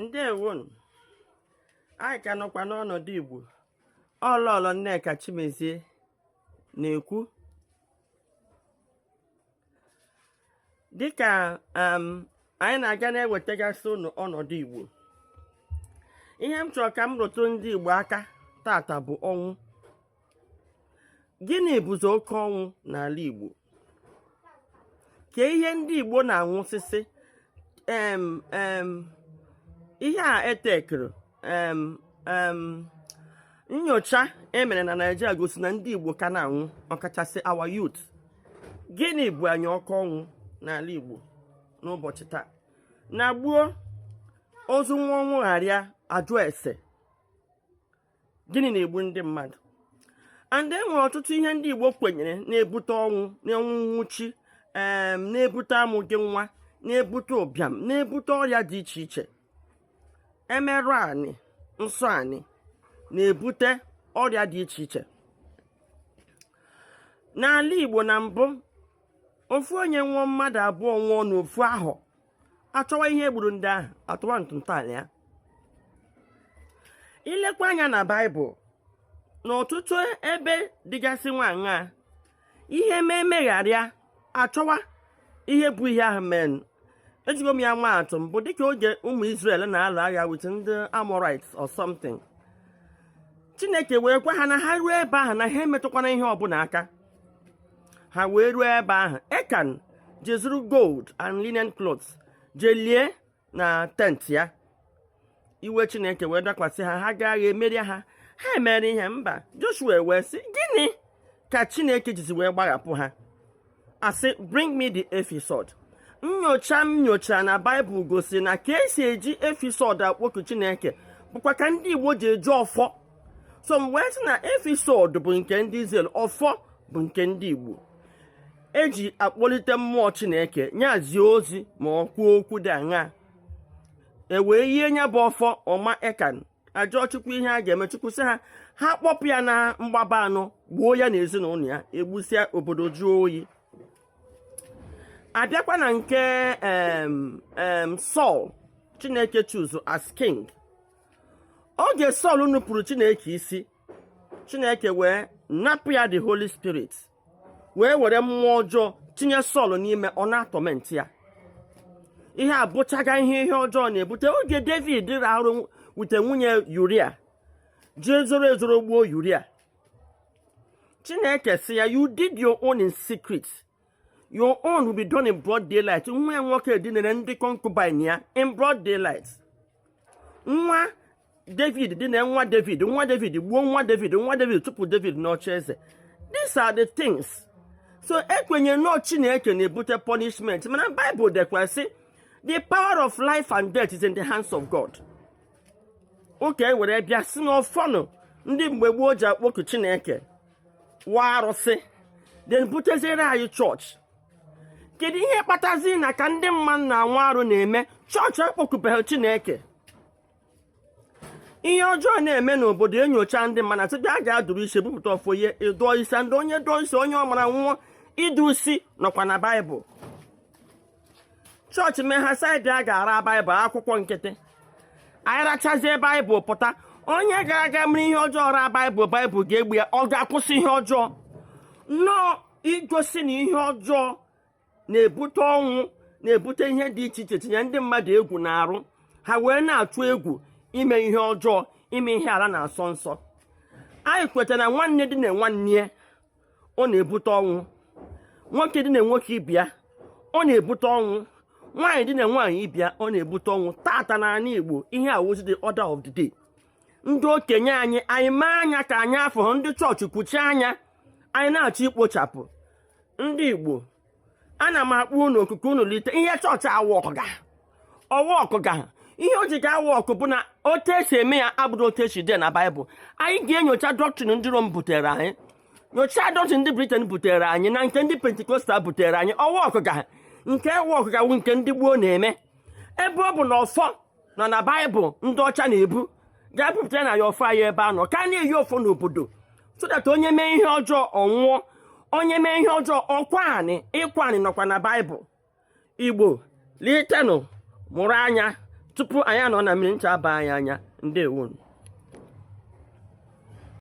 ndewonụ anyị ka nọkwa n'ọnọdụ igbo ọ lọlọ nneka chimezie na-ekwu dịka um, anyị na-aga na-ewetagasị ụnụ ọnọdụ igbo ihe m chọrọ ka m rụtụ ndị igbo aka tata bụ ọnwụ gịnị bụzi oke ọnwụ n'ala Igbo kee ihe ndị Igbo na-anwụsịsị em em ihe a etekere em em nyocha emere na Naịjirịa gosi na ndị Igbo ka na-anwụ ọkachasị our youth gịnị bụ anyị oke ọnwụ n'ala Igbo n'ụbọchị taa na gboo ozu nwa ọnwụ gharịa ajụ ese gịnị na-egbu ndị mmadụ and e nwere ọtụtụ ihe ndị Igbo kwenyere na-ebute ọnwụ ọnwụ nwụchi na-ebute amụghị nwa na-ebute ụbịam na-ebute ọrịa dị iche iche emerụ anị nsọ anị na-ebute ọrịa dị iche iche n'ala Igbo na mbụ ofu onye nwụọ mmadụ abụọ nwụọ n'ofu ahọ achọwa ihe gburu ndị ahụ atụwa ntọala ya i lekwa anya na baịbụl n'ọtụtụ ebe dịgasị nwaṅa ihe mee megharịa achọwa ihe bụ ihe ahụ menụ ejigo m ya maa atụ mbụ dịka oge ụmụ Israel na-alụ agha with ndị Amorites or something Chineke wee gwa ha na ha ruo ebe ahụ na ha emetụkwana ihe ọbụla aka ha wee ruo ebe ahụ ekan je zuru gold and linen clothes je lie na tent ya iwe chineke wee dakwasị ha ha gaa agha emerie ha ha emere ihe mba joshua wee sị gịnị ka chineke jizi wee gbaghapụ ha asị bring me the ephod nyocha m nyocha na baịbụl gosi na ka esi eji efisọd akpoku chineke bụkwa ka ndị igbo ji eji ọfọ so m wee sị na efisọd bụ nke ndị Izrel ọfọ bụ nke ndị Igbo eji akpọlite mmụọ Chineke nya zie ozi ma ọ kwuo okwu dị aṅa ewee yie nya bụ ọfọ ọ ma ekan ajụọ chukwu ihe a ga-eme chukwu sị ha ha kpọpụ ya na mgbaba anọ gbuo ya na ezinụlọ ya egbusịa obodo jụọ oyi abịakwa na nke Sọl Chineke choose as king oge Sọl nupụrụ Chineke isi Chineke wee napụ ya the Holy Spirit wee were mmụọ ọjọọ tinye Sọl n'ime ọ na-atọment ya ihe a bụchaga ihe ihe ọjọọ na-ebute oge David rụ arụ wute nwunye Yuria jee zoro ezoro gbuo Yuria Chineke sị ya you did your own in secret your own will be done in broad daylight nwa ya nwoke dinere ndị concubine ya in broad daylight nwa david dine nwa david nwa david gbuo nwa david nwa david tupu david n'oche eze these are the things so ekwenye na ọ chineke na-ebute punishment mana bible dekwa sị the power of life and death is in the hands of god okay e were bịa sị na ọfọnụ ndị mgbe gboo ji akpọku chineke wụ arụsị then buteziere anyị chọọchị kedu ihe kpatazi na ka ndị mmadụ na-anwụ arụ na-eme chọọchị akpọkubeghị chineke ihe ọjọọ na-eme n'obodo e nyochaa ndị mmadụ a sị bịa ga adụrụ isi bupụta ọfọ ihe ịdụọ isi ndị onye dụọ isi onye ọ mara nwụọ ịdụ isi nọkwa na baịbụl chọọchị mee ha saịdị a ga-ara baịbụl akwụkwọ nkịtị anyị rachazie baịbụl pụta onye gara aga mere ihe ọjọọ ra baịbụl baịbụl ga-egbu ya ọ ga-akwụsị ihe ọjọọ nnọọ igosi na ihe ọjọọ na-ebute ọnwụ na-ebute ihe dị iche iche tinye ndị mmadụ egwu n'arụ ha wee na-atụ egwu ime ihe ọjọọ ime ihe ala na-asọ nsọ anyị kwetara na nwanne dine nwanne ya ọ na-ebute ọnwụ nwoke dine nwoke ibe ya ọ na-ebute ọnwụ nwaanyị dine nwaanyị ibe ya ọ na-ebute ọnwụ taata n'ala Igbo ihe a wụzi the order of the day ndị okenye anyị anyị mee anya ka anyị afụhụ ndị chọọchị kwuchie anya anyị na-achọ ikpochapụ ndị Igbo ana m akpọ unu oku ka unu lite ihe chọọchị aworkụga ọ workụga ihe o ji ga-awork bụ na otu esi eme ya abụrụ otu o si dị na baịbụl anyị ga-enyocha doctrine ndị rome butere anyị nyochaa doctrine ndị britain butere anyị na nke ndị pentecostal butere anyị ọ workụga nke workụga bụ nke ndị gboo na-eme ebe ọ bụ na ọfọ nọ na baịbụl ndị ọcha na-ebu ga-ebupụta na ya ọfọ anyị ebe a nọ ka a na-eyi ọfọ n'obodo so that onye mee ihe ọjọọ ọ nwụọ onye mee ihe ọjọọ ọ kwaa anị ịkwa anị nọkwa na baịbụl igbo litenụ mụrụ anya tupu anyị anọ na mmiri ncha aba anyị anya ndewonu